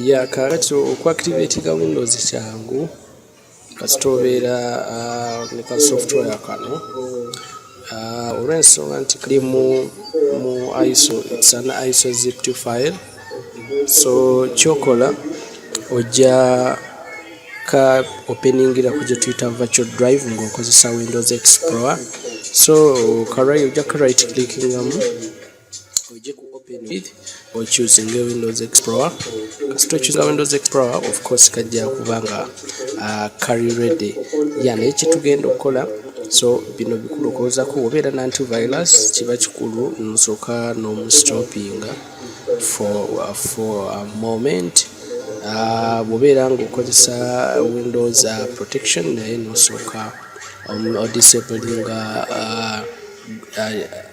ya kakati okuactivatinga windows kyangu kasita obeera ah, ne ka software kano ah, olw'ensonga nti kali mu mu iso its an iso zip to file so kyokola ojja ka openingira ku gye tuyita virtual drive ng'okozesa windows explorer so karai ojja ka right clickingamu ojje ku open with okyusinge windows explorer kasita okyusinga windows explorer of course kajja kuba nga uh, carry ready ya naye kyetugenda okukola so bino bikulu okozako obeera na antivirus kiba kikulu nosooka nomustoppinga for, uh, for a moment uh, bwobeera ngaokozesa windows uh, protection naye nosooka um, odisabliinga uh, uh,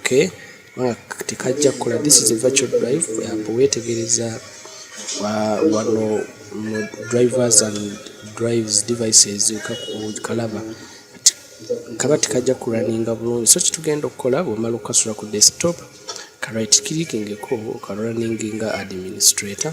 okay tekajja kukola this is a virtual drive yambo wetegereza wano drivers and drives devices kalaba kaba tekajja kuraninga bulungi so kitugenda okukola bwemala okukasula ku desktop ka right clicking ko ka running nga administrator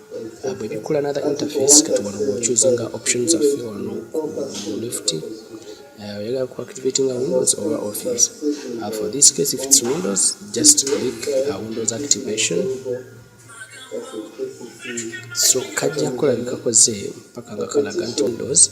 Ah, bwe bikkula another interface kati wano bwochuzinga option zaffe wano mu left ah, oyagala ku activatinga windows oba office uh, for this case if it's windows just click uh, windows activation so kajja kulabikako ze mpaka nga kalaga nti windows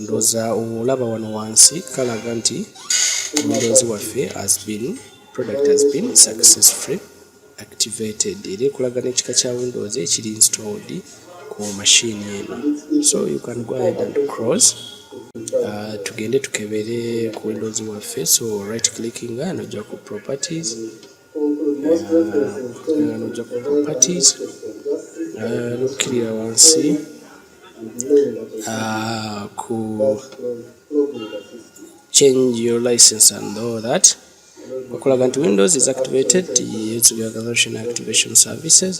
ndoza olaba wano wansi kalaga nti omulonzi waffe has been product has been successfully activated era ekulaga n'ekika kya windows ekiri installed ku machine eno so you can go ahead and cross uh, tugende tukebere ku windows waffe so right clicking nojja ku properties nojja ku properties nokukirira wansi ku change your license and all that okulaga nti windows is activated its reorganization activation services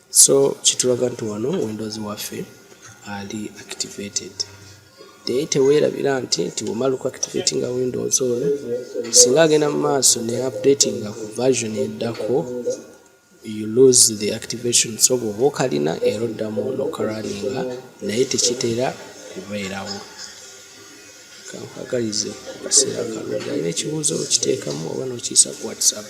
So kitulaga nti wano Windows waffe ali activated naye teweerabira nti nti womala oku activate nga Windows ono singa agenda mu maaso ne update nga ku version eddako you lose the activation so bwoba okalina era oddamu nokaraninga naye tekitera kubeerawo kankagalize akaseera kalungi alina ekibuuzo okiteekamu oba nokiyisa ku whatsapp